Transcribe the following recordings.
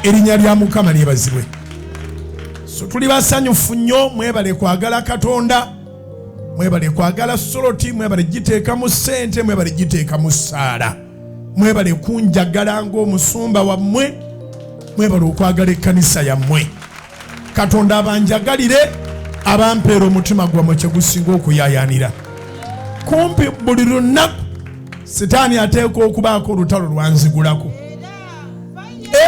erinnya lya mukama lyebazibwe so tuli basanyufu nnyo mwebale kwagala katonda mwebale kwagala soloti mwebale giteeka mu ssente mwebale giteeka mu ssaala mwebale kunjagala ng'omusumba wammwe mwebale okwagala ekkanisa yammwe katonda abanjagalire abampeera omutima gwammwe kyegusinga okuyayanira kumpi buli lunaku sitaani ateekwa okubaako olutalo lwanzigulako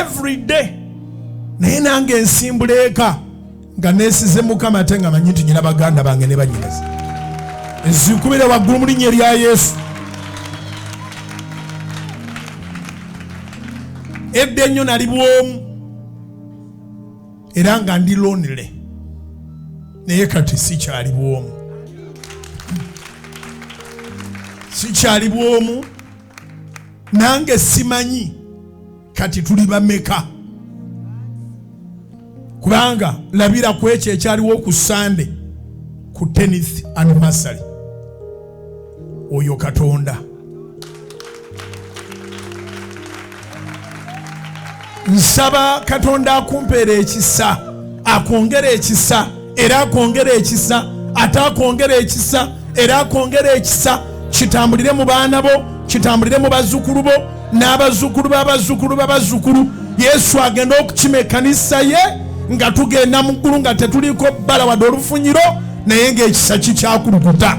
everyday naye nange ensimbula eka nga nesize mukama ate nga manyi nti nyina baganda bange ne banyinazi ezikubire waggulu mu linnya erya yesu edda ennyo nali bwomu era nga ndi lonely naye kati sikyali bwomu sikyali bwomu nange simanyi kati tuli bameka kubanga labira ku ekyo ekyaliwo ku sande ku tenith anniversary oyo katonda nsaba katonda akumpeera ekisa akwongera ekisa era akwongera ekisa ate akwongera ekisa era akwongera ekisa kitambulire mu baana bo kitambulire mu bazzukulu bo n'abazzukulu b'abazzukulu b'abazzukulu yesu agenda okukima ekkanisa ye nga tugenda mu ggulu nga tetuliiko bbala wadde olufunyiro naye ng'ekisa kikyakulukuta